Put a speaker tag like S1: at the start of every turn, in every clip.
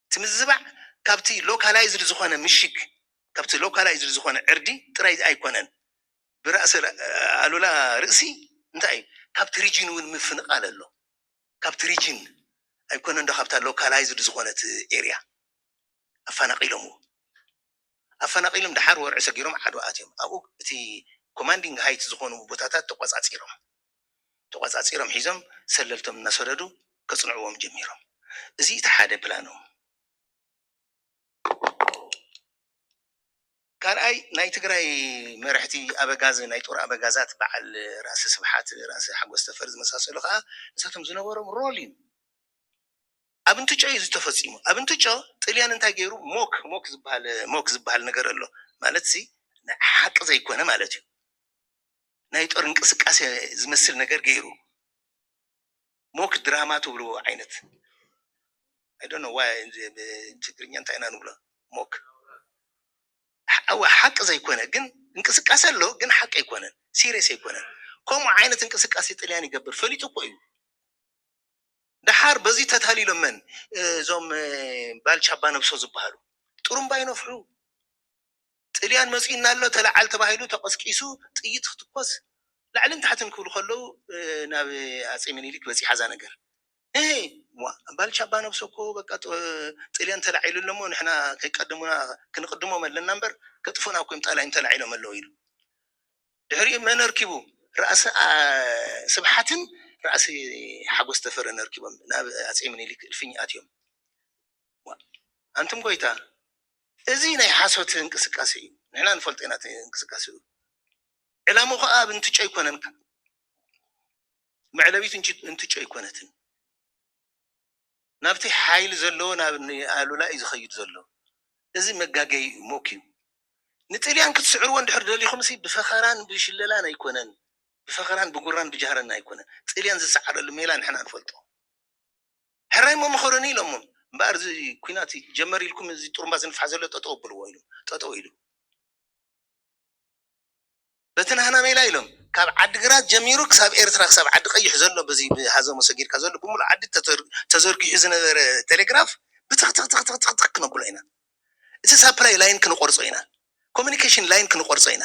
S1: እቲ ምዝባዕ ካብቲ ሎካላይዝድ ዝኾነ ምሽግ፣ ካብቲ ሎካላይዝድ ዝኾነ ዕርዲ ጥራይ ኣይኮነን። ብራእሲ ኣሉላ ርእሲ እንታይ እዩ? ካብቲ ሪጅን እውን ምፍንቓል ኣሎ። ካብቲ ሪጅን ኣይኮነንዶ ካብታ ሎካላይዝድ ዝኾነት ኤርያ ኣፋናቒሎምዎ። ኣፈናቒሎም ደሓር ወርዒ ሰጊሮም ዓድዋ ኣትዮም ኣብኡ እቲ ኮማንዲንግ ሃይት ዝኾኑ ቦታታት ተቖፃፂሮም ተቖፃፂሮም ሒዞም ሰለልቶም እናሰደዱ ከፅንዕዎም ጀሚሮም እዚ እቲ ሓደ ፕላኖም ካልኣይ ናይ ትግራይ መርሕቲ ኣበጋዝ ናይ ጦር ኣበጋዛት በዓል ራእሲ ስብሓት ራእሲ ሓጎስ ተፈሪ ዝመሳሰሉ ኸዓ ንሳቶም ዝነበሮም ሮል እዩ። ኣብ እንትጮ እዩ እዚ ተፈጺሙ ኣብ እንትጮ ጥልያን እንታይ ገይሩ ሞክ ሞክ ዝብሃል ሞክ ዝብሃል ነገር ኣሎ ማለት እዚ ናይ ሓቂ ዘይኮነ ማለት እዩ ናይ ጦር እንቅስቃሴ ዝመስል ነገር ገይሩ ሞክ ድራማ ትብልዎ ዓይነት ኣይ ዶንት ኖ ዋይ ትግርኛ እንታይ ኢና ንብሎ ሞክ እወ ሓቂ ዘይኮነ ግን እንቅስቃሴ ኣሎ ግን ሓቂ ኣይኮነን ሲሪየስ ኣይኮነን ከምኡ ዓይነት እንቅስቃሴ ጥልያን ይገብር ፈሊጡ እኮ እዩ ደሓር በዚ ተታሊሎም መን እዞም ባልቻ ኣባ ነብሶ ዝበሃሉ ጥሩምባ ይነፍሑ ጥልያን መፂኡና ኣሎ ተለዓል ተባሂሉ ተቐስቂሱ ጥይት ክትኮስ ላዕልን ታሕትን ክብሉ ከለዉ ናብ ኣፄ ምኒልክ በፂሓ እዛ ነገር እህ ባልቻ ኣባ ነብሶ እኮ በቃ ጥልያን ተላዒሉ ኣሎ እሞ ንሕና ከይቀደሙና ክንቕድሞም ኣለና እምበር ከጥፉና እኮ እዮም ጣላይም ተላዒሎም ኣለዉ ኢሉ ድሕሪኡ መን ኣርኪቡ ራእሲ ስብሓትን ራእሲ ሓጎስ ተፈረን ኣርኪቦም ናብ ኣጼ ምኒሊክ እልፍኝ ኣትዮም ዋእ ኣንቱም ጎይታ እዚ ናይ ሓሶት እንቅስቃሴ እዩ ንሕና ንፈልጦ ኢና እቲ እንቅስቃሴኡ ዕላሙ ከኣ ኣብ እንትጮ ኣይኮነን መዕለቢት እንትጮ ኣይኮነትን ናብቲ ሓይሊ ዘለዎ ናብ ኣሉላ እዩ ዝኸይድ ዘሎ እዚ መጋገዪ እዩ ሞኪዩ ንጥልያን ክትስዕርዎ እንድሕር ደሊኹምሲ ብፈኸራን ብሽለላን ኣይኮነን ብፈኸራን ብጉራን ብጃህረን ኣይኮነን ጥልያን ዝሰዓረሉ ሜላ ንሕና ንፈልጦ ሕራይ እሞ ምኸሩኒ ኢሎሞም እምበኣር እዚ ኩናት ጀመር ኢልኩም እዚ ጥሩምባ ዝንፋሕ ዘሎ ጠጠው ኣብልዎ ኢሎም ጠጠው ኢሉ። በቲ ናህና ሜላ ኢሎም ካብ ዓዲግራት ጀሚሩ ክሳብ ኤርትራ ክሳብ ዓዲ ቀይሕ ዘሎ በዚ ብሃዘሞ ሰጊርካ ዘሎ ብምሉእ ዓዲ ተዘርጊሑ ዝነበረ ቴሌግራፍ ብትኽትኽትኽትኽ ክነብሎ ኢና እቲ ሳፕላይ ላይን ክንቆርጾ ኢና ኮሙኒኬሽን ላይን ክንቆርጾ ኢና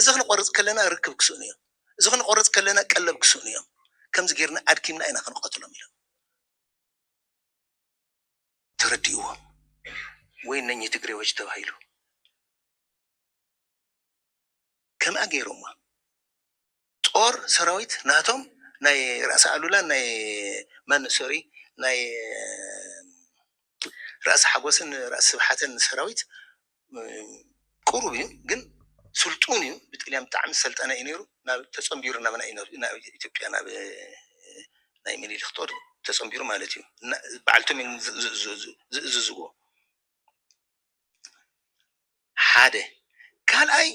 S1: እዚ ክንቆርጽ ከለና ርክብ ክስእኑ እዮም እዚ ክንቆርጽ ከለና ቀለብ ክስእኑ እዮም ከምዚ ጌርና ኣድኪምና ኢና ክንቐትሎም ኢሎም ተረዲእዎም ወይ እነኚህ ትግሬዎች ተባሂሉ ከምኣ ገይሮማ ጦር ሰራዊት ናቶም ናይ ራእሲ ኣሉላን ናይ ማን ሶሪ ናይ ራእሲ ሓጎስን ራእሲ ስብሓትን ሰራዊት ቁሩብ እዩ ግን ስልጡን እዩ ብጥልያን ብጣዕሚ ዝሰልጠነ እዩ ነይሩ ናብ ተጸንቢሩ ናብና እዩ ናብ ኢትዮጵያ ናብ ናይ ሚኒሊክ ጦር ተጸንቢሩ ማለት እዩ እና በዓልቶም እዮም ዝእዝዝዎ ሓደ ካልኣይ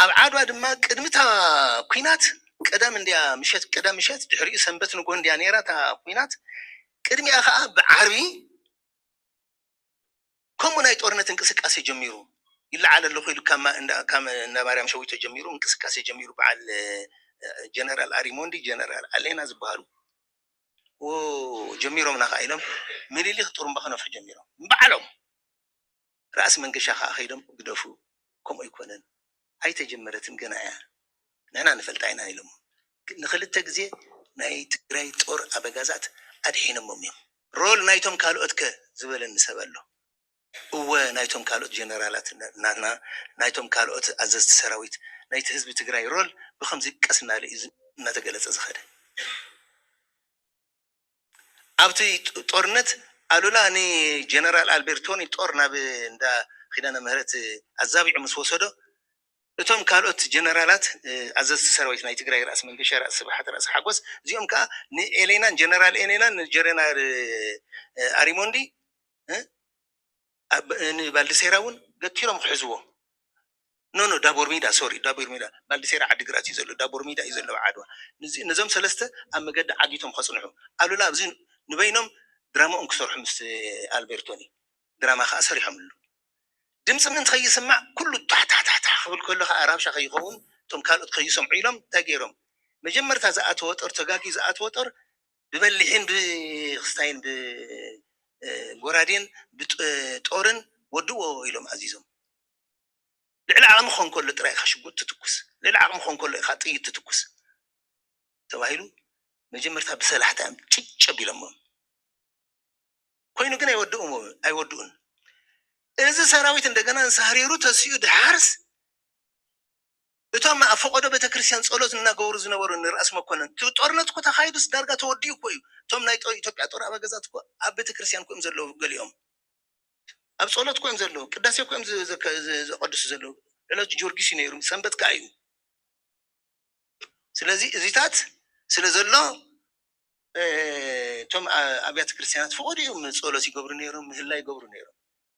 S1: ኣብ ዓድዋ ድማ ቅድሚ እታ ኩናት ቀዳም እንድያ ምሸት ቀዳም ምሸት ድሕሪኡ ሰንበት ንግሆ እንድያ ነይራ እታ ኩናት ቅድሚኣ ከዓ ብዓርቢ ከምኡ ናይ ጦርነት እንቅስቃሴ ጀሚሩ ይለዓል ኣለኹ ኢሉ ካብ ማ- እንዳ- ካብ እንዳ ማርያም ሸዊቶ ጀሚሩ እንቅስቃሴ ጀሚሩ በዓል ጀነራል ኣሪሞንዲ ጀነራል ኣሌና ዝበሃሉ ጀሚሮምና ከኣ ኢሎም ምኒሊክ ጥሩምባ ክነፍሑ ጀሚሮም ንባዕሎም ራእሲ መንገሻ ከኣ ከይዶም ግደፉ ከምኡ ኣይኮነን ኣይተጀመረትን ገና እያ ንሕና ንፈልጣ ኢና ኢሎሞም ንክልተ ግዜ ናይ ትግራይ ጦር ኣበጋዛት ኣድሒኖሞም እዮም። ሮል ናይቶም ካልኦት ከ ዝበለኒ ሰብ ኣሎ? እወ ናይቶም ካልኦት ጀነራላት ናትና ናይቶም ካልኦት ኣዘዝቲ ሰራዊት ናይቲ ህዝቢ ትግራይ ሮል ብኸምዚ ቀስ እናለ እዩ እናተገለፀ ዝኸደ። ኣብቲ ጦርነት ኣሉላ ንጀነራል ኣልቤርቶኒ ጦር ናብ እንዳ ኪዳነ ምህረት ኣዛቢዑ ምስ ወሰዶ እቶም ካልኦት ጀነራላት ኣዘዝቲ ሰራዊት ናይ ትግራይ ራእሲ መንገሻ፣ ራእሲ ስብሓት፣ ራእሲ ሓጎስ እዚኦም ከዓ ንኤሌናን ጀነራል ኤሌናን ንጀረናር ኣሪሞንዲ ን ባልዲሴራ ውን ገቲሮም ክሕዝዎ ን ን ዳቦርሚዳ ሶሪ ዳቦርሚዳ ባልዲሴራ ዓዲግራት እዩ ዘሎ ዳቦርሚዳ እዩ ዘሎ ኣብ ዓድዋ ንዚ ነዞም ሰለስተ ኣብ መገዲ ዓጊቶም ከጽንሑ ኣሉላ ኣብዚ ንበይኖም ድራምኦም ክሰርሑ ምስ ኣልቤርቶኒ ድራማ ከኣ ሰሪሖምሉ ድምጺ ምእንቲ ከይስማዕ ኩሉ ቷሕታሕታሕ ክብል ከሎ ከኣ ራብሻ ከይኸውን እቶም ካልኦት ከይሰምዑ ኢሎም እንታይ ጌሮም መጀመርታ ዝኣተወ ጦር ተጋግዩ ዝኣተወ ጦር ብበሊሕን ብክስታይን ብጎራዴን ብጦርን ወድእዎ ኢሎም ኣዚዞም። ልዕሊ ዓቕሚ ክኾን ከሎ ጥራይ ኢኻ ሽጉጥ ትትኩስ፣ ልዕሊ ዓቕሚ ክኾን ከሎ ኢኻ ጥይት ትትኩስ ተባሂሉ መጀመርታ ብሰላሕታ እዮም ጭጭ ኣቢሎሞም። ኮይኑ ግን ኣይወድኡን። እዚ ሰራዊት እንደገና ንሳህሪሩ ተሲኡ ድሓርስ እቶም ኣብ ፈቐዶ ቤተክርስትያን ጸሎት እናገበሩ ዝነበሩ እኒ ራእሲ መኮነን፣ እቲ ጦርነት እኮ ተኻይዱስ ዳርጋ ተወዲኡ እኮ እዩ፣ እቶም ናይ ኢትዮጵያ ጦር ኣበገዛት እኮ ኣብ ቤተክርስትያን እኮ እዮም ዘለዉ ገሊኦም፣ ኣብ ጸሎት እኮ እዮም ዘለዉ፣ ቅዳሴ እኮ እዮም ዘቐድሱ ዘለዉ፣ ዕለቱ ጆርጊስ እዩ ነይሩ፣ ሰንበት ከኣ እዩ፣ ስለዚ እዚታት ስለ ዘሎ እቶም ኣብያተ ክርስትያናት ፈቐድኡ እዮም ጸሎት ይገብሩ ነይሮም፣ ምህላ ይገብሩ ነይሮም።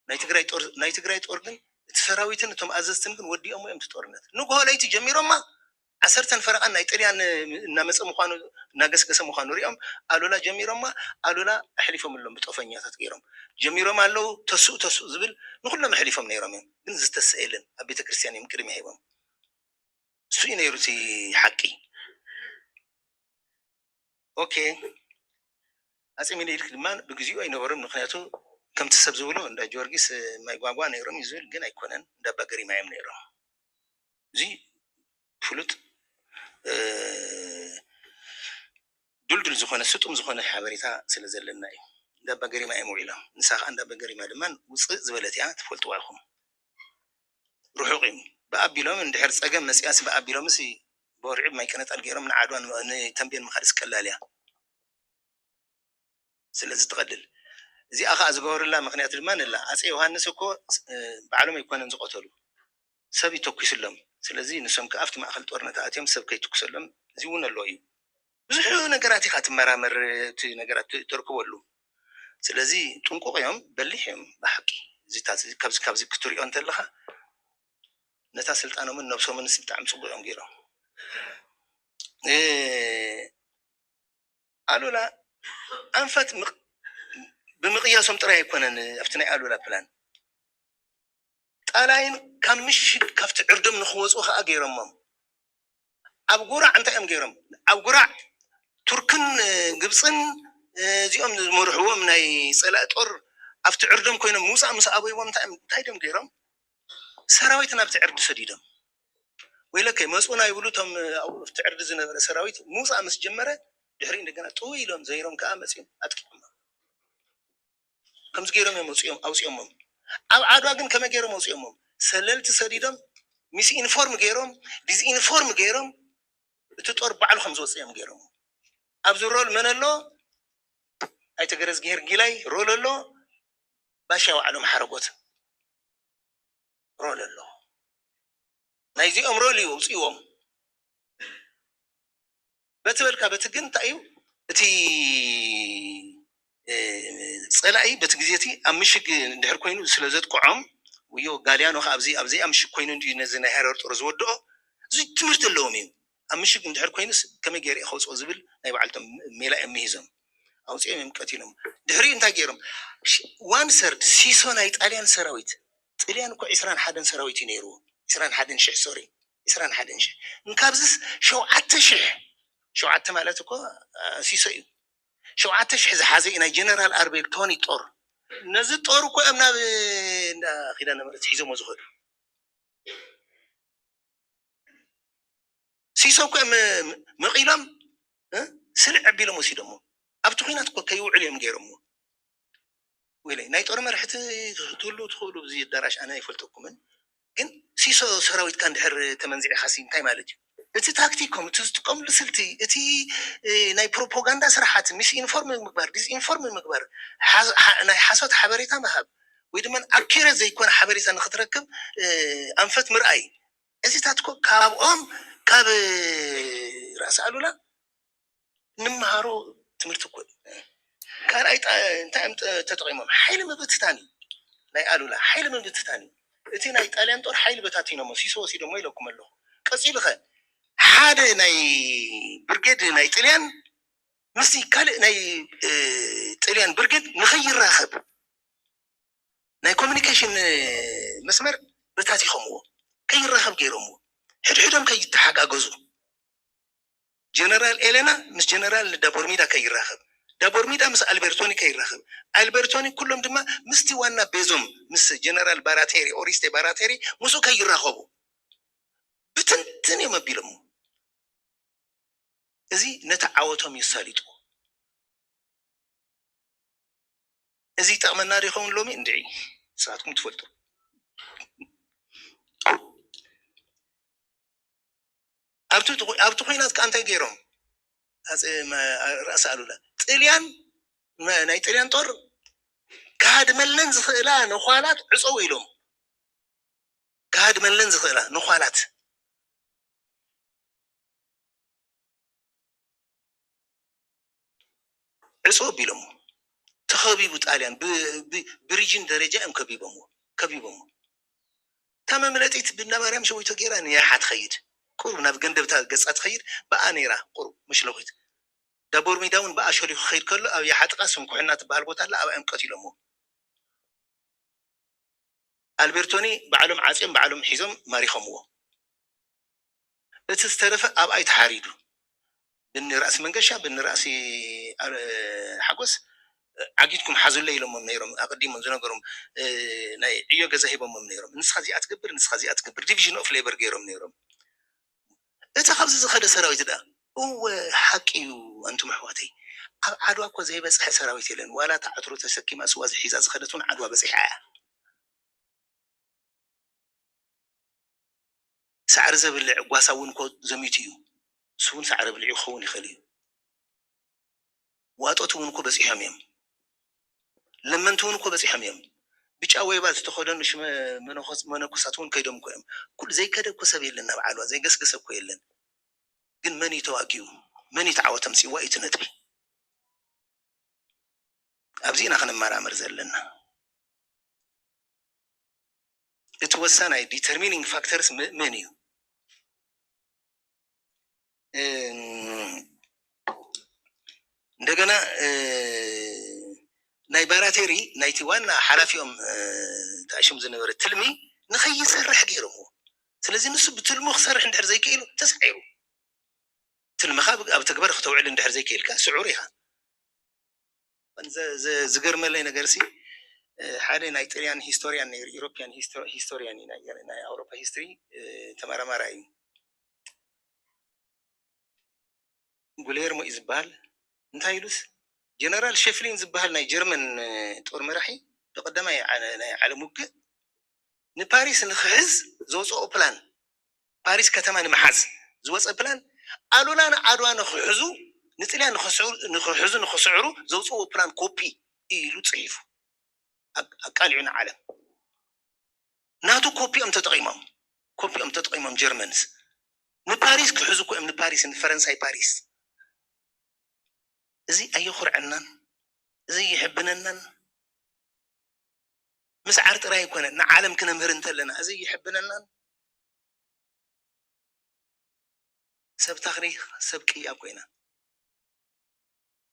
S1: ናይ ትግራይ ጦር ናይ ትግራይ ጦር ግን እቲ ሰራዊትን እቶም ኣዘዝትን ግን ወዲኦሞ እዮም እቲ ጦርነት። ንግሆ ለይቲ ጀሚሮማ ዓሰርተን ፈረቓን ናይ ጥልያን እናመጸ ምዃኑ እናገስገሰ ምዃኑ ሪኦም ኣሉላ ጀሚሮማ ኣሉላ ኣሕሊፎምሎም ብጦፈኛታት ገይሮም ጀሚሮማ ኣለዉ ተስኡ ተስኡ ዝብል ንኹሎም ኣሕሊፎም ነይሮም እዮም ግን ዝተስኣ የለን ኣብ ቤተ ክርስትያን እዮም ቅድሚያ ሂቦም እሱ እዩ ነይሩ እቲ ሓቂ ኦኬ ኣፄ ሚኒሊክ ድማ ብግዚኡ ኣይነበሩን ምክንያቱ ከምቲ ሰብ ዝብሎ እንዳ ጊዮርጊስ ማይ ጓጓ ነይሮም እዩ ዝብል ግን ኣይኮነን እንዳ ኣባ ገሪማ እዮም ነይሮም እዚ ፍሉጥ ድልዱል ዝኾነ ስጡም ዝኾነ ሓበሬታ ስለ ዘለና እዩ እንዳ ኣባ ገሪማ እዮም ውዒሎም ንሳ ከዓ እንዳ ኣባ ገሪማ ድማ ውፅእ ዝበለት እያ ትፈልጥዋ ኢኹም ርሑቕ እዩ። ብኣቢሎም እንድሕር ጸገም መጺኣሲ ብኣቢሎምሲ ብወርዒ ብማይቀነጣል ገይሮም ንዓድዋ ንተምቤን ምኻድሲ ቀላል እያ። ስለዚ ትቐልል። እዚኣ ከኣ ዝገበሩላ ምኽንያት ድማ ንላ። ኣጼ ዮሃንስ እኮ ባዕሎም ኣይኮነን ዝቐተሉ። ሰብ እዩ ተኲሱሎም። ስለዚ ንሶም ከኣ ኣብቲ ማእከል ጦርነት ኣእትዮም ሰብ ከይትኩሰሎም እዚ እውን ኣሎ እዩ። ብዙሕ ነገራት ኢኻ ትመራመር እቲ ነገራት ተርክበሉ ስለዚ ጥንቁቅ እዮም በሊሕ እዮም ብሓቂ እዚታት ካብዚ ካብዚ ክትሪኦ እንተለኻ ነታ ስልጣኖምን ነብሶምንስ ብጣዕሚ ጽቡቅ እዮም ጌሮም ኣሉላ ኣንፈት ብምቅያሶም ጥራይ ኣይኮነን ኣብቲ ናይ ኣሉላ ፕላን ጣላይን ካብ ምሽግ ካብቲ ዕርዶም ንክወጹ ከኣ ገይሮሞም። ኣብ ጉራዕ እንታይ እዮም ገይሮም ኣብ ጉራዕ ቱርክን ግብጽን እዚኦም ዝመርሕዎም ናይ ጸላኢ ጦር ኣብቲ ዕርዶም ኮይኖም ምውጻእ ምስ ኣበይዎም እንታይ እዮም እንታይ ድዮም ገይሮም ሰራዊት ናብቲ ዕርዲ ሰዲዶም። ወይለከ መጹና ይብሉ እቶም ኣብቲ ዕርዲ ዝነበረ ሰራዊት ምውጻእ ምስ ጀመረ ድሕሪኡ እንደገና ጥውይ ኢሎም ዘይሮም ከኣ መጺኦም ኣጥቂዖሞም። ከምዚ ገይሮም እዮም ኣውጺኦም ኣውጺኦሞም ኣብ ዓድዋ ግን ከመይ ገይሮም ኣውጺኦሞም ሰለልቲ ሰዲዶም ሚስ ኢንፎርም ገይሮም ዲዝ ኢንፎርም ገይሮም እቲ ጦር ባዕሉ ከም ዝወጽእ እዮም ገይሮሞ ኣብዚ ሮል መን ኣሎ ኣይተ ገረዝጊሄር ጊላይ ሮል ኣሎ ባሻ ዋዕሎም ሓረጎት ሮል ኣሎ ናይዚኦም ሮል እዩ ኣውጺዎም በቲ በልካ በቲ ግን እንታይ እዩ እቲ ፀላኢ በቲ ግዜ እቲ ኣብ ምሽግ እንድሕር ኮይኑ ስለ ዘጥቅዖም ውዮ ጋልያኖ ከዓ ኣብዚ ኣብ ዘይኣ ምሽግ ኮይኑ እንድዩ ነዚ ናይ ሃረር ጦር ዝወድኦ እዚ ትምህርቲ ኣለዎም እዩ ኣብ ምሽግ እንድሕር ኮይኑስ ከመይ ገይረ እየ ከውፅኦ ዝብል ናይ በዓልቶም ሜላ እዮም ምሂዞም ኣውፂኦም እዮም ቀቲሎም ድሕሪኡ እንታይ ገይሮም ዋን ሰርድ ሲሶ ናይ ጣልያን ሰራዊት ጥልያን እኮ ዕስራን ሓደን ሰራዊት እዩ ነይርዎ ዕስራን ሓደን ሽሕ ሶሪ ዕስራን ሓደን ሽሕ እንካብዝስ ሸውዓተ ሽሕ ሸውዓተ ማለት እኮ ሲሶ እዩ ሸውዓተ ሽሕ ዝሓዘ እዩ ናይ ጀነራል ኣርቤል ቶኒ ጦር ነዚ ጦር እኮ እዮም ናብ እንዳ ኪዳነ ምሕረት ሒዞሞ ዝኸዱ ሲሶ እኮ እዮም መቒሎም ስልዕ ኣቢሎም ወሲዶሞ ኣብቲ ኲናት እኮ ከይውዕል እዮም ገይሮሞ ወይለይ ናይ ጦር መርሕቲ ክትህልዉ ትክእሉ ኣብዚ ኣዳራሽ ኣነ ኣይፈልጠኩምን ግን ሲሶ ሰራዊትካ እንድሕር ተመንዚዕካሲ እንታይ ማለት እዩ እቲ ታክቲኮም እቲ ዝጥቀምሉ ስልቲ እቲ ናይ ፕሮፖጋንዳ ስርሓት ሚስ ኢንፎርም ምግባር ዲስኢንፎርም ምግባር ናይ ሓሶት ሓበሬታ ምሃብ ወይ ድማ ኣኪረት ዘይኮነ ሓበሬታ ንክትረክብ ኣንፈት ምርኣይ እዚታትኮ ካብኦም ካብ ራእሲ ኣሉላ እንመሃሮ ትምህርቲ እኮ እዩ ካልኣይ ጣ- እንታይ እዮም ጥ- ተጠቒሞም ሓይሊ ምብትታን እዩ ናይ ኣሉላ ሓይሊ ምብትታን እዩ እቲ ናይ ጣልያን ጦር ሓይሊ በታቲኖሞ ሲሶ ወሲዶሞ ኢለኩም ኣለኹ ቀፂሉ ኸ ሓደ ናይ ብርጌድ ናይ ጥልያን ምስቲ ካልእ ናይ እ፣ ጥልያን ብርጌድ ንኸይራኸብ ናይ ኮሚኒኬሽን እ፣ መስመር በታቲኸምዎ ከይራኸብ ገይሮምዎ ሕድሕዶም ከይተሓጋገዙ ጀነራል ኤለና ምስ ጀነራል ዳቦርሚዳ ከይራኸብ፣ ዳቦርሚዳ ምስ ኣልቤርቶኒ ከይራኸብ፣ ኣልቤርቶኒ ኩሎም ድማ ምስቲ ዋና ቤዞም ምስ ጀነራል ባራቴሪ፣ ኦሪስቴ ባራቴሪ፣ ምስኡ ከይራኸቡ ብትንትን እዮም ኣቢሎሞ። እዚ ነቲ ዓወቶም እዩ ኣሳሊጥዎ። እዚ ይጠቕመና ዶ ይኸውን ሎሚ? እንድዒ ንስኻትኩም ትፈልጡ። ኣብቲ ኹናት ከኣ እንታይ ገይሮም ኣጼ ራእሲ ኣሉላ ጥልያን ናይ ጥልያን ጦር ክሃድመለን ዝኽእላ ነዃላት ዕጸው ኢሎም ክሃድመለን ዝኽእላ ነዃላት ዕጹው ኣቢሎሞ ተኸቢቡ ጣልያን ብሪጅን ደረጃ እዮም ከቢቦሞ ከቢቦሞ እታ መምለጢት ብእንዳማርያም ሸዊቶ ጌራ ንየሓ ትኸይድ ቁሩብ ናብ ገንደብታ ገጻ ትኸይድ ብኣ ኔራ ቁሩብ መሽለኺት ዳቦርሚዳ ውን ብኣ ሸሊኹ ክኸይድ ከሎ ኣብ የሓ ጥቃ ስንኩሕና ትብሃል ቦታ ኣላ ኣብኣ እዮም ቀቲሎሞ ኣልቤርቶኒ ባዕሎም ዓጽዮም ባዕሎም ሒዞም ማሪኾምዎ። እቲ ዝተረፈ ኣብኣይ ተሓሪዱ ብኒ ራእሲ መንገሻ ብኒ ራእሲ ሓጎስ ዓጊትኩም ሓዙለይ ኢሎሞም ነይሮም ኣቀዲሞም ዝነገሮም ናይ ዕዮ ገዛ ሂቦሞም ነይሮም ንስካ እዚኣ ትገብር ንስካ እዚኣ ትገብር ዲቪዥን ኦፍ ሌበር ገይሮም ነይሮም እቲ ካብዚ ዝከደ ሰራዊት ድኣ እወ ሓቂ እዩ ኣንቱም ኣሕዋተይ ኣብ ዓድዋ እኮ ዘይበፅሐ ሰራዊት የለን ዋላ እታ ዕትሮ ተሰኪማ ስዋ ሒዛ ዝከደት እውን ዓድዋ በፂሓ እያ። ሳዕሪ ዘብልዕ ጓሳ እውን እኮ ዘሚቱ እዩ። ንሱ እውን ሳዕሪ ኣብሊዑ ክኸውን ይኽእል እዩ። ዋጦት እውን እኮ በጺሖም እዮም። ለመንቲ እውን እኮ በጺሖም እዮም። ብጫ ወይባ ዝተኸደኑ ሽመ መነኮሳት እውን ከይዶም እኮ እዮም። ኩሉ ዘይከደ እኮ ሰብ የለን ናብ ዓድዋ፣ ዘይገስገሰ እኮ የለን። ግን መን እዩ ተዋጊኡ? መን እዩ እቲ ዓወት ኣምጺእዎ እዩ እቲ ነጥቢ። ኣብዚ ኢና ክንመራመር ዘለና። እቲ ወሳናይ ዲተርሚኒንግ ፋክተርስ መን እዩ? እንደገና ናይ ባራቴሪ ናይቲ ዋና ሓላፊኦም ተኣሽም ዝነበረ ትልሚ ንኸይሰርሕ ገይሮምዎ ስለዚ ንሱ ብትልሙ ክሰርሕ እንድሕር ዘይክኢሉ ተሳዒሩ ትልምኻ ኣብ ተግባር ክተውዕል እንድሕር ዘይክኢልካ ስዑር ኢኻ ዝገርመለይ ነገር ሲ ሓደ ናይ ጥልያን ሂስቶርያን ነይሩ ኢሮፕያን ሂስቶርያን እዩ ናይ ኣውሮፓ ሂስትሪ ተመራማራ እዩ ጉሌርሞ እዩ ዝበሃል እንታይ ኢሉስ ጀነራል ሸፍሊን ዝበሃል ናይ ጀርመን ጦር መራሒ ብቀዳማይ ናይ ዓለም ውግእ ንፓሪስ ንክሕዝ ዘውፅኦ ፕላን ፓሪስ ከተማ ንምሓዝ ዝወጸ ፕላን ኣሉላ ን ዓድዋ ንክሕዙ ንጥልያን ንክሕዙ ንክስዕሩ ዘውጽእዎ ፕላን ኮፒ እዩ ኢሉ ጽሒፉ ኣቃሊዑ ንዓለም ናቱ ኮፒ እዮም ተጠቒሞም ኮፒ እዮም ተጠቒሞም ጀርመንስ ንፓሪስ ክሕዙ እኮ እዮም ንፓሪስ ንፈረንሳይ ፓሪስ እዚ ኣየኹርዐናን እዚ የሕብነናን። ምስዓር ጥራይ ኣይኮነን፣ ንዓለም ክነምህር እንተለና እዚ ይሕብነናን። ሰብ ታክሪክ ሰብ ቅያ ኮይና።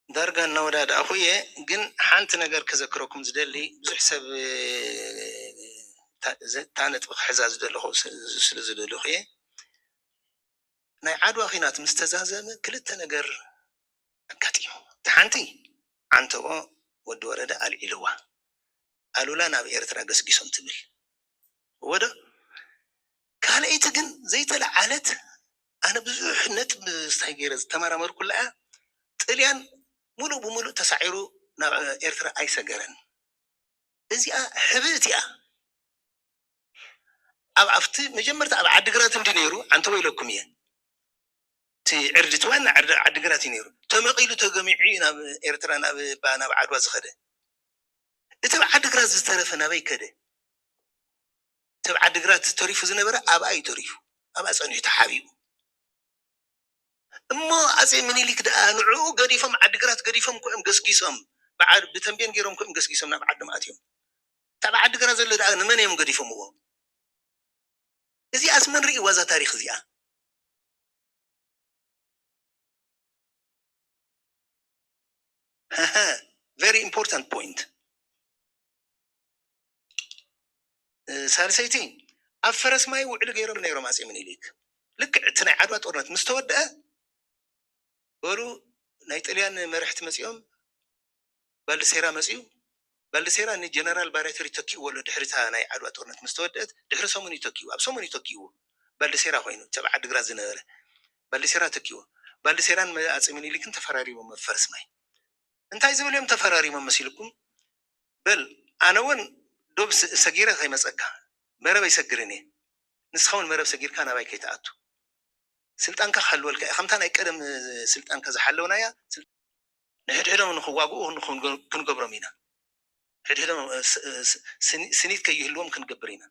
S1: ዳርጋ እናወዳዳእኹ እየ ግን ሓንቲ ነገር ከዘክረኩም ዝደሊ ብዙሕ ሰብ እታ ነጥቢ ክሕዛ ዝደለኹ ስለ ዝደለኹ እየ። ናይ ዓድዋ ኲናት ምስ ተዛዘመ ክልተ ነገር ኣጋጢሙ። እታ ሓንቲ ዓንተቦ ወዲ ወረደ ኣልዒልዋ፣ ኣሉላ ናብ ኤርትራ ገስጊሶም ትብል እወ'ዶ? ካልኣይቲ ግን ዘይተለዓለት ኣነ ብዙሕ ነጥቢ ስታይ ገይረ ዝተመራመርኩላ'ያ፣ ጥልያን ምሉእ ብምሉእ ተሳዒሩ ናብ ኤርትራ ኣይሰገረን። እዚኣ ሕብእቲ'ያ። ኣብ ኣብቲ መጀመርታ ኣብ ዓዲግራት እንድዩ ነይሩ ዓንተቦይ ኢለኩም እየ እቲ ዕርዲ እቲ ዋና ዕርዲ ኣብ ዓዲግራት እዩ ነይሩ ተመቒሉ ተገሚዑ እዩ ናብ ኤርትራ ናብ እባ ናብ ዓድዋ ዝኸደ እቲ ኣብ ዓዲግራት ዝተረፈ ናበይ ከደ እቲ ኣብ ዓዲግራት ተሪፉ ዝነበረ ኣብኣ እዩ ተሪፉ ኣብኣ ጸኒሑ ተሓቢኡ እሞ ኣጼ ምኒሊክ ደኣ ንዕኡ ገዲፎም ዓዲግራት ገዲፎም እኮ እዮም ገስጊሶም ብዓድ ብተምቤን ገይሮም እኮ እዮም ገስጊሶም ናብ ዓዶም ኣትዮም እታ ኣብ ዓዲግራት ዘሎ ደኣ ንመን እዮም ገዲፎምዎ እዚኣስ መን ርእይዋ እዛ ታሪኽ እዚኣ። ሀሀ ቨሪ ኢምፖርታንት ፖይንት። ሳልሰይቲ ኣብ ፈረስ ማይ ውዕሊ ገይሮም ነይሮም ኣፄ ምኒልክ ልክዕ እቲ ናይ ዓድዋ ጦርነት ምስ ተወድአ በሉ ናይ ጥልያን መርሕቲ መፂኦም ባልዲሴራ መፅኡ ባልዲሴራ ንጀነራል ባሬተር ይተኪእዎ ኣሎ ድሕሪታ ናይ ዓድዋ ጦርነት ምስ ተወድአት ድሕሪ ሰሙን ይተኪኡ ኣብ ሰሙን ይተኪእዎ ባልዲሴራ ኮይኑ ተብ ዓዲግራት ዝነበረ ባልዲሴራ ተኪእዎ ባልዲሴራን ኣፄ ምኒልክን ተፈራሪሞም ኣብ ፈረስ ማይ እንታይ ዝብል እዮም ተፈራሪሞም መሲልኩም በል ኣነ ውን ዶብ ሰጊረ ከይመጸካ መረብ ኣይሰግርን እየ ንስካ ውን መረብ ሰጊርካ ናባይ ከይትኣቱ ስልጣንካ ክሕልወልካ እየ ከምታ ናይ ቀደም ስልጣንካ ዝሓለውናያ ንሕድሕዶም ንክዋግኡ ክንገብሮም ኢና ሕድሕዶም ስኒት ከይህልዎም ክንገብር ኢና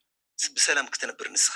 S1: ብሰላም ክትነብር ንስካ።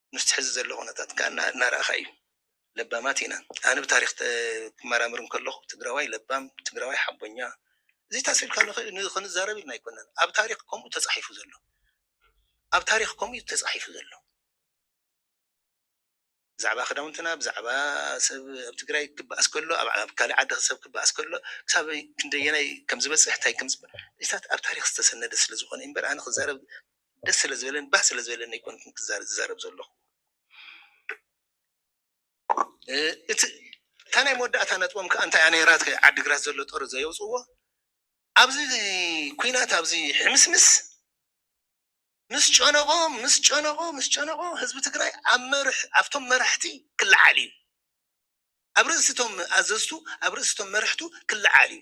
S1: ምስቲ ሕዚ ዘሎ ኩነታት ከኣ እናረኣኻ እዩ። ለባማት ኢና። ኣነ ብታሪኽ ክመራመር እንከለኹ ትግራዋይ ለባም፣ ትግራዋይ ሓቦኛ እዚታስ ኢልካ ንኽንዛረብ ኢልና ኣይኮናን። ኣብ ታሪኽ ከምኡ ተጻሒፉ ዘሎ። ኣብ ታሪኽ ከምኡ እዩ ተጻሒፉ ዘሎ። ብዛዕባ ክዳውንትና፣ ብዛዕባ ሰብ ኣብ ትግራይ ክበኣስ ከሎ፣ ኣብ ካልእ ዓዲ ሰብ ክበኣስ ከሎ ክሳብ ክንደየናይ ከም ዝበጽሕ እንታይ ከም እዚታት ኣብ ታሪኽ ዝተሰነደ ስለ ዝኾነ እምበር ኣነ ክዛረብ ደስ ስለ ዝበለኒ ባህ ስለ ዝበለኒ ኣይኮንኩን ክዛረብ ዝዛረብ ዘለኹ እቲ እታ ናይ መወዳእታ ነጥቦም ከዓ እንታይ እያ ነይራ እቲ ዓዲግራት ዘሎ ጦር ዘየውፅዎ ኣብዚ ኩናት ኣብዚ ሕምስምስ ምስ ጨነቆ ምስ ጨነቆ ምስ ጨነቆ ህዝቢ ትግራይ ኣብ መርሕ ኣብቶም መራሕቲ ክለዓል እዩ ኣብ ርእሲቶም ኣዘዝቱ ኣብ ርእሲቶም መርሕቱ ክለዓል እዩ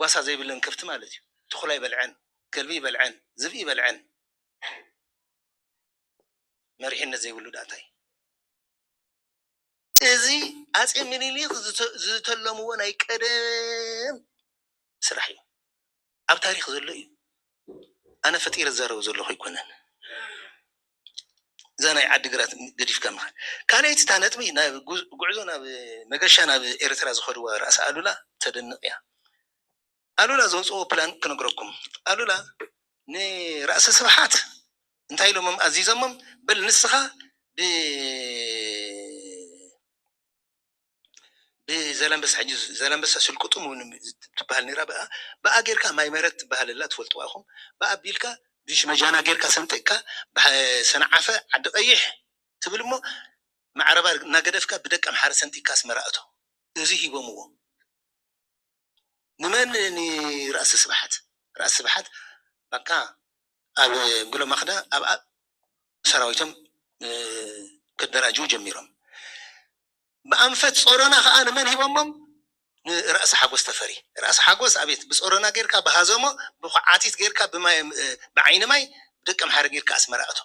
S1: ጓሳ ዘይብለን ከፍቲ ማለት እዩ ተኹላ ይበልዐን ከልቢ ይበልዐን ዝብኢ ይበልዐን መሪሕነት ዘይብሉ ድኣ እንታይ። እዚ ኣጼ ሚኒሊክ ዝተለምዎ ናይ ቀደም ስራሕ እዩ ኣብ ታሪክ ዘሎ እዩ ኣነ ፈጢረ ዝዛረቦ ዘለኩ ኣይኮነን። እዛ ናይ ዓዲ ግራት ገዲፍካ ምኻድ። ካልኣይቲ እታ ነጥቢ ናብ ጉዕዞ ናብ መገሻ ናብ ኤርትራ ዝኸድዋ ራእሲ ኣሉላ ተደንቕ እያ። ኣሉላ ዘውጽእዎ ፕላን ክነግረኩም። ኣሉላ ንራእሲ ስብሓት እንታይ ኢሎሞም ኣዚዞሞም በል ንስኻ ብ ብዘላንበሳ ሕጂ ዘላንበሳ ስልቅጡም እውን ትበሃል ነይራ ብኣ ብኣ ጌርካ ማይ ምህረት ትበሃል ኣላ ትፈልጥዋ ኢኹም ብኣ ኣቢልካ ብሽመጃና ጌርካ ሰንጢቕካ ሰንዓፈ ዓዲ ቀይሕ ትብል እሞ ማዕረባ እናገደፍካ ብደቀምሓረ ሰንጢቕካ ኣስመራ እቶ እዚ ሂቦምዎ ንመን ን ራእሲ ስብሓት ራእሲ ስብሓት ባቃ ኣብ ጉሎ ማክዳ ኣብ ኣብ ሰራዊቶም ከደራጅዉ ጀሚሮም ብኣንፈት ጾሮና ከኣ ንመን ሂቦሞም ን ራእሲ ሓጎስ ተፈሪ ራእሲ ሓጎስ ኣቤት ብጾሮና ጌርካ ብሃዘሞ ብኳዓቲት ጌርካ ብማይ ብዓይኒ ማይ ብደቀምሓረ ጌርካ ኣስመራ ኣቶ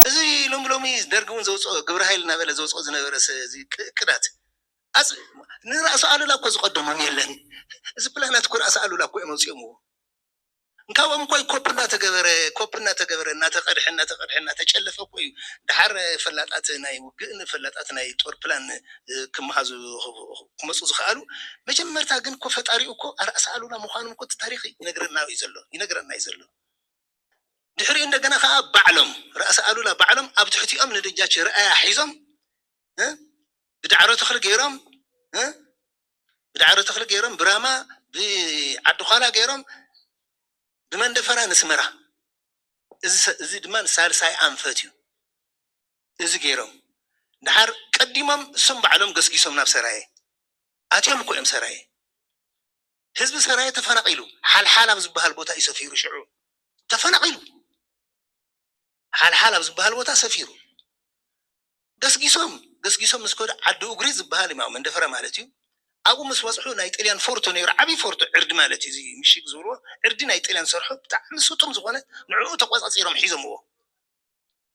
S1: እዚ ሎሚ ሎሚ ደርጊ እውን ዘውፀኦ ግብረ ሃይል እናበለ ዘውፀኦ ዝነበረ እቅዳት ኣፅ ንራእሲ ኣሉላ እኮ ዝቀደሞም የለን እዚ ፕላናት እኮ ራእሲ ኣሉላ እኮ እዮም ኣውፂኦምዎ እንካብኦም እኮ ኮፕ እናተገበረ ኮፕ እናተገበረ እናተቀድሐ እናተቀድሐ እናተጨለፈ እኮ እዩ ድሓር ፈላጣት ናይ ውግእን ፈላጣት ናይ ጦር ፕላን ክመሃዙ ክመፁ ዝኸኣሉ መጀመርታ ግን እኮ ፈጣሪኡ እኮ ራእሲ ኣሉላ ምዃኖም እኮ እቲ ታሪክ ይነግረና እዩ ዘሎ ይነግረና እዩ ዘሎ ድሕሪኡ እንደገና ከኣ ባዕሎም ራእሲ ኣሉላ ባዕሎም ኣብ ትሕቲኦም ንደጃች ርኣያ ሒዞም እ ብዳዕሮ ተኽሊ ገይሮም እ ብዳዕሮ ተኽሊ ገይሮም ብራማ ብዓዲዃላ ገይሮም ብመንደፈራ ንስመራ እዚ ድማ ሳልሳይ ኣንፈት እዩ እዚ ገይሮም ድሓር ቀዲሞም እሶም ባዕሎም ገስጊሶም ናብ ሰራየ ኣትዮም እኮ እዮም ሰራየ ህዝቢ ሰራየ ተፈናቂሉ ሓልሓል ኣብ ዝብሃል ቦታ እዩ ሰፊሩ ሽዑ ተፈናቂሉ ሓልሓል ኣብ ዝብሃል ቦታ ሰፊሩ ገስጊሶም ገስጊሶም ምስ ከዱ ዓዲ ኡግሪ ዝብሃል እዩ መንደፈራ ማለት እዩ ኣብኡ ምስ በፅሑ ናይ ጥልያን ፎርቶ ነይሩ ዓብይ ፎርቶ ዕርዲ ማለት እዩ እዚ ምሽግ ዝብልዎ ዕርዲ ናይ ጥልያን ዝሰርሑ ብጣዕሚ ስጡም ዝኾነ ንዕኡ ተቆፃፂሮም ሒዞምዎ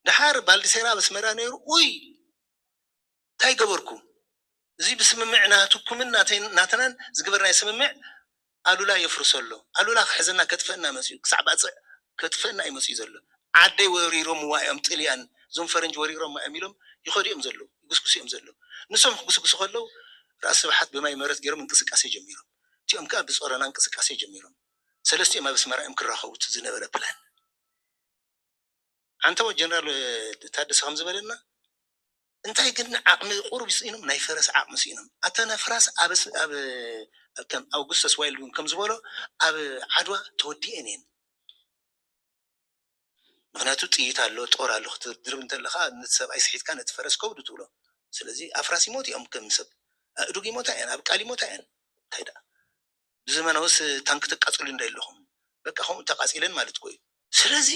S1: ደሓር ባልዲሴራ ኣብ ኣስመራ ነይሩ ኡይ ታይ ገበርኩ እዚ ብስምምዕ ናትኩምን ናተይን ናትናን ዝግበርናዮ ስምምዕ ኣሉላ የፍርሶ ኣሎ ኣሉላ ክሕዘና ከጥፈእና መፅዩ ክሳዕ ባፅዕ ከጥፈእና እዩ መፅዩ ዘሎ ዓደይ ወሪሮምዋ እዮም ጥልያን እዞም ፈረንጂ ወሪሮማ እዮም ኢሎም ይኸዱ እዮም ዘለዉ ይጉስጉሱ እዮም ዘለዉ ንሶም ክጉስጉሱ ከለዉ ራእሲ ስብሓት ብማይ መረት ገይሮም እንቅስቃሴ ጀሚሮም እቲኦም ከዓ ብፆረና እንቅስቃሴ ጀሚሮም ሰለስቲኦም ኣብ ኣስመራ እዮም ክራኸቡ እቲ ዝነበረ ፕላን ኣንተወ ጀነራል ታደሰ ከምዝበለና እንታይ ግን ዓቅሚ ቁሩብ ስኢኖም ናይ ፈረስ ዓቅሚ ስኢኖም ኣተን ኣፍራስ ኣብ ኣብ ከም ኣውጉስተስ ዋይልድ ውን ከም ዝበሎ ኣብ ዓድዋ ተወዲኤን እየን ምክንያቱ ጥይት ኣሎ ጦር ኣሎ ክትድርብ እንተለካ ነቲ ሰብኣይ ስሒትካ ነቲ ፈረስ ከብዱ ትብሎ ስለዚ ኣፍራስ ይሞቱ እዮም ከም ሰብ ኣእዱግ ይሞታ እየን ኣብ ቃል ይሞታ እየን እንታይ ደኣ ብዘመናውስ ታንኪ ተቃጽሉ እንዶ የለኩም በቃ ከምኡ ተቃጺለን ማለት እኮ እዩ ስለዚ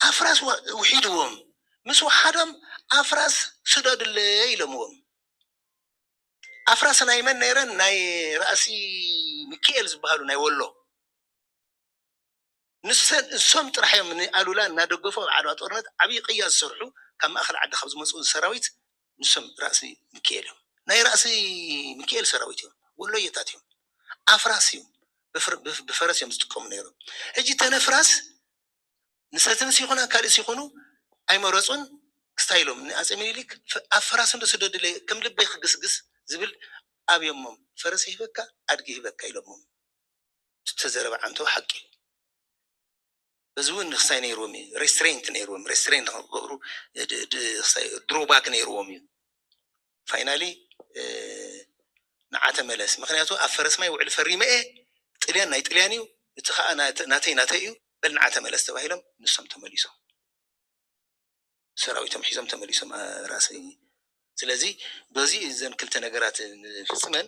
S1: ኣፍራስ ውሒድዎም ምስ ወሓዶም ኣፍራስ ስደዱለይ ኢሎምዎም ኣፍራስ ናይ መን ነይረን ናይ ራእሲ ምኪኤል ዝባሃሉ ናይ ወሎ ንሰን እሶም ጥራሕ እዮም ንኣሉላ እናደገፉ ኣብ ዓድዋ ጦርነት ዓብይ ቅያ ዝሰርሑ ካብ ማእኸል ዓዲ ካብ ዝመፁ ሰራዊት ንሶም ራእሲ ምኪኤል እዮም ናይ ራእሲ ምኪኤል ሰራዊት እዮም ወሎየታት እዮም ኣፍራስ እዮም ብፈረስ እዮም ዝጥቀሙ ነይሮም ሕጂ ተነፍራስ ንሰትንስ ይኹን ኣካልእስ ይኹኑ ኣይመረጹን ስታይሎም ንኣጼ ሚኒሊክ ኣብ ፈራስንዶ ስደዱለይ ከም ልበይ ክግስግስ ዝብል ኣብዮሞም ፈረስ ይህበካ ኣድጊ ይህበካ ኢሎሞም ዝተዘረበ ዓንተቦ ሓቂ እዩ በዚውን ክስታይ ነይርዎም እዩ ሬስትሬንት ነይርዎም ሬስትሬንት ንክገብሩ ድሮባክ ነይርዎም እዩ ፋይናሊ ንዓ ተመለስ ምክንያቱ ኣብ ፈረስማይ ውዕል ፈሪመ እየ ጥልያን ናይ ጥልያን እዩ እቲ ከኣ ናተይ ናተይ እዩ በል ንዓ ተመለስ ተባሂሎም ንሶም ተመሊሶም ሰራዊቶም ሒዞም ተመሊሶም ራእሲ ስለዚ በዚ እዘን ክልተ ነገራት ፍጽመን